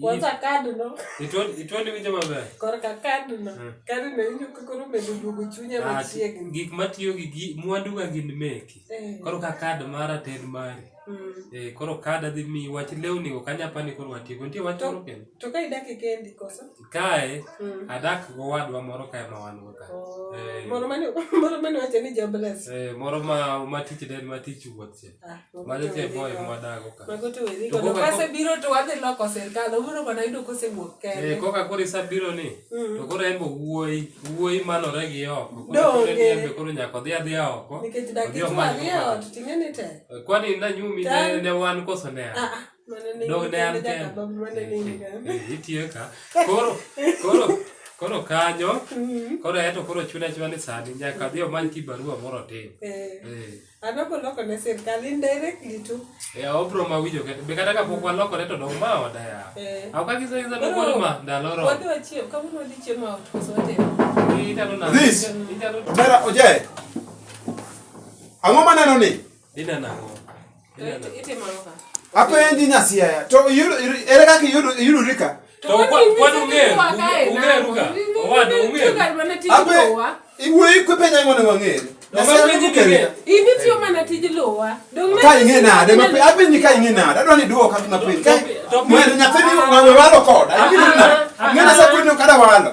Kwanza kadi no. Itwoni itwoni winjo maber. Korka kadi no. Eh. Kadi no winjo ka koro medo duogo chunya ah, machiegni. Gik matiyo gi mwandu ga gin meki. Eh. Koro ka kad mara ten mari. Mm. Eh koro kad adhi mi wach lewni go kanyapa ni koro watieko. Nitie wach moro kendo. To ka idake kendi koso? kae mm. adak gowadwa moro kae ma wan go ka oh, eh. moro mane moro mane wacho ni jobless eh moro ma ma tich den ma tich wuoth che ah, ma jo che boy ma dago ka mago to wezi ko ka se biro to wadhi loko serikal obiro mana yudo ko se wuok kae eh koka kori sa biro ni mm. to koro embo wuoi wuoi manore gi oko koro ni embe koro nyako dhi adhi oko nikech dakitwa ni ot ting'e ni te eh, kwani na nyumi ne wan koso ne ah, ah. dog ne an kenda itiyo ka koro koro koro kanyo mm-hmm. koro eto koro chuna chwa ni sani nyaka dhi omany ki barua moro tin eh. eh. adoko loko ne sirkal indirectly tu e eh, obro ma winjo kete be kata kapok waloko ne to dong ma oda ya aw ka gizo gizo no koro ma ndalo ro wadwa chiem kama no di chiem out so te ni tano na this tano mera oje ang'o maneno ni Dina nango. Itimo ka. Apo endi nyasia to yudo ere kaka yudo yudo rika. To kwa kwa unge unge ruka. Owado unge. Apo iwe ikwe penya ngone wangere. Ini tiyo mana tij lowa. Ka ing'e nade mapiyo. Apenji ka ing'e nade. Adwa ni dwoka mapiyo. Mwen nyathini walo koda. Ing'e nasa kwedno kada walo.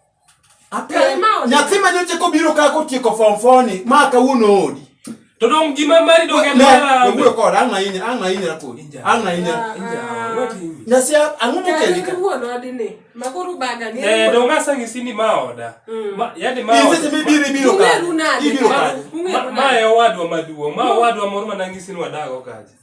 nyathi ma nyocha kobiro ka kotieko form four ni ma kawuono odi to dong gima mari dong en mara wuoyo kod ang' ahinya ang' ahinya kod ang' ahinya nyasi ang'o mokeli ka wuono adine makuru baga ni eh dong asa ngisi ni ma oda mm. ma yadi ma oda mi biri biro ka ibiro ka ma e owadwa maduong' ma mm. owadwa moro manangisi ni wadago kaje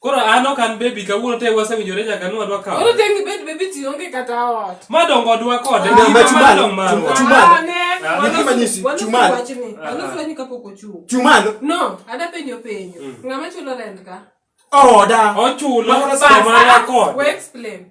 Koro an ok an baby kawuono te wasewinjore nyaka nwa dwa kawo. Koro tengi bed baby ti onge kata ot. Ma dongo dwa kode. Ah, ma chumal. Chumal. Ne ki manyisi chumal. Ano fwenyi kapok ochung. Chumal. No, ada penyo penyo. Mm. Ngama chulo rent ka? Oda. Ochulo sama la kod. We explain.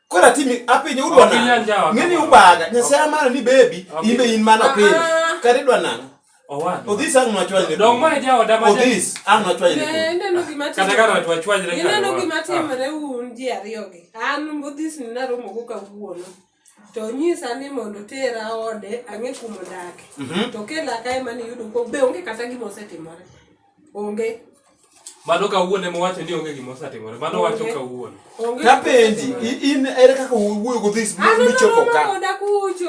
Kora timi apinyo udwa nang'o? Ng'eni ubaga. Nyasaye amana ni baby imbe in mana piny. Ah. Kare idwa nang'o? Odhis ang' nwachwanyre. Dong ma jaoda ma Odhis ang' nwachwanyre. Eh, ineno gima timore. Kata ka nwachwanyre. Ineno gima ah. timore un ji ariyogi. An Odhis ni naromo go kawuono. to nyisa ni mondo tera ode ang'e kumo dake mhm. to kela kae mane yudo ko be onge kata gima osetimore Onge. Mano kawuono ema wacho ni onge gima osetimore. Mano wacho kawuono. Kapenji in ere kaka wuoyo go this ah, michopo ka.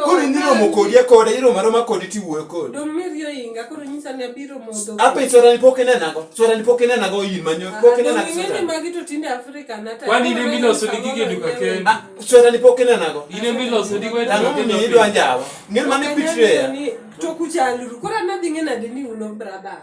Koro in iromo kodi e kode iromo aroma kodi tiwuoyo kodi. Dong miriyo inga koro nyisa ni abiro modho. Ape sora ni pok inena go. Sora ni pok inena go in manyo ah, pok inena go. Ngeni magi to tinde Afrika na ta. Kwani ni milo so digi ge duka ken. Ah, sora ni pok inena go. Ine milo so digi we ta. Ngani ni idwa njawa. Ngeni mane bitre. To kuchaluru. Kora nadhi ngena dini uno brother.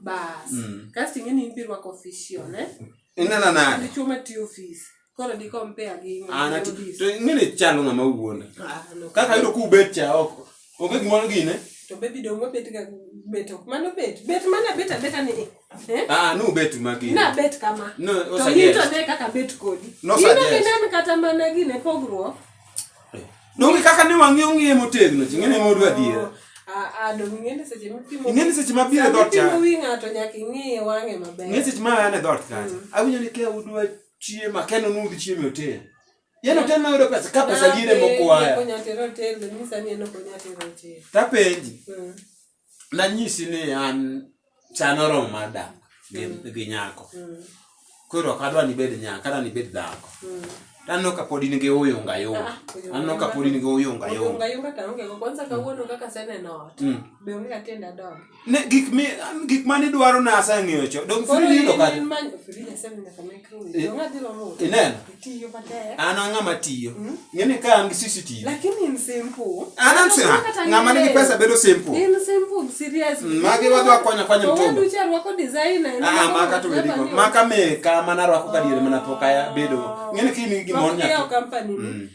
bas mm. kasto ing'e ni idhi rwako official eh? inena nade chuma ti office koro di compare gi ana to ng'e chalo ng'ama wuonda ah, kaka yudo ku bet cha oko onge gimoro gine to bebi dong wabet ga bet ok mano bet bet mana bet abeta ni eh? ah no bet magi na bet kama no, to yito ne kaka bet kodi no, yino ne kata mana gine pogruok Donge kaka ne wang'e ong'e motegno, ching'e ne modu adiera. Ing'e ni seche ma biro e dhot cha. Ing'e seche ma an e dhot kacha. Mm. Awinjo ni kia udwa chiemo, akeno ni ud chiemo e otel. Yeno otel ma yudo pesa, ka pesa liere mokwaya. Tapenji. Mm. nanyisi ni an chan oromo mar dak gi mm. nyako mm. koro ok adwa nibed nyako adwa nibed dhako mm. tanno ka pod in gi uyunga yunga ah, anno ka pod in gi uyunga yunga gik mane idwaro na aseng'eyo cho dong frili yudo kata Eh, ineno an ang'a matiyo hmm? ng'eni ka an gi cctv an an sina ng'ama nigi pesa bedo simple hmm, magi wadhi wakonya kwanya mtumba ah, maka to wedi maka meka mana rwako kadiere mana pok aya bedo ng'eni kini gimon nyato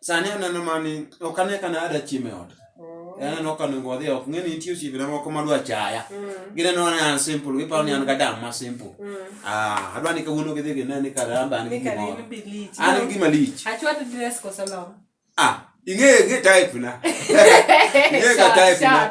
sani aneno mani ok ane ka nada chiemo e ot oh. aneno ka nengo wadhi ok ng'e ni nitie osiepena moko madwa chaya mm. gineno ni an simple giparo ni an ga dam ma simple mm. ah, adwa ni kawuono gidhi gine ni karamba an gi gimoro an gi gima lich ah ing'e gi type na ing'e ga type na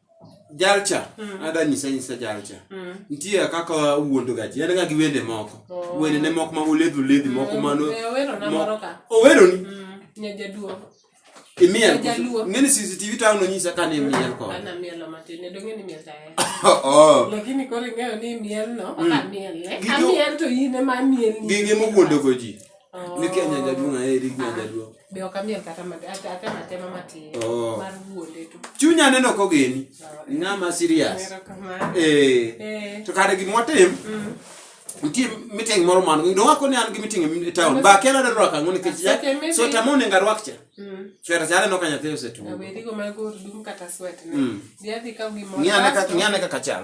jalcha mm. ada nyisa nyisa jalcha mm. nitie kaka wuondo gaji en ga gi wende moko oh. wende ne moko ma uledhi uledhi mm. moko mano eh, owero na moro ka owero ni mm. nyajaduo imiel ngeni CCTV tao no nyisa kani imiel ko ana mielo matine do ngeni miel tae oh lakini kore ngeo ni miel no mm. aka miel ne amiel to yine ma miel ni gige mo wuondo goji oh. ni kenya jaduo na eri genya jaduo Be ok amiel kata mat- ata- ata matema matin Oh. mar wuonde to chunya neno kogeni ng'ama serious erokamano eh Eh, to kare gima watim mm. nitie meeting moro man nowako ni an gi meeting e town ba kela ne rwaka ng'o nikech ya- Aseke meeting. sweta mone nga rwak cha Mm. sweta chale no kanya theo setu Awerigo mag ur dum kata swet ne. Mm. Dhi adhi kaw gimoro. ng'ane ka Kasto- ng'ane kaka chal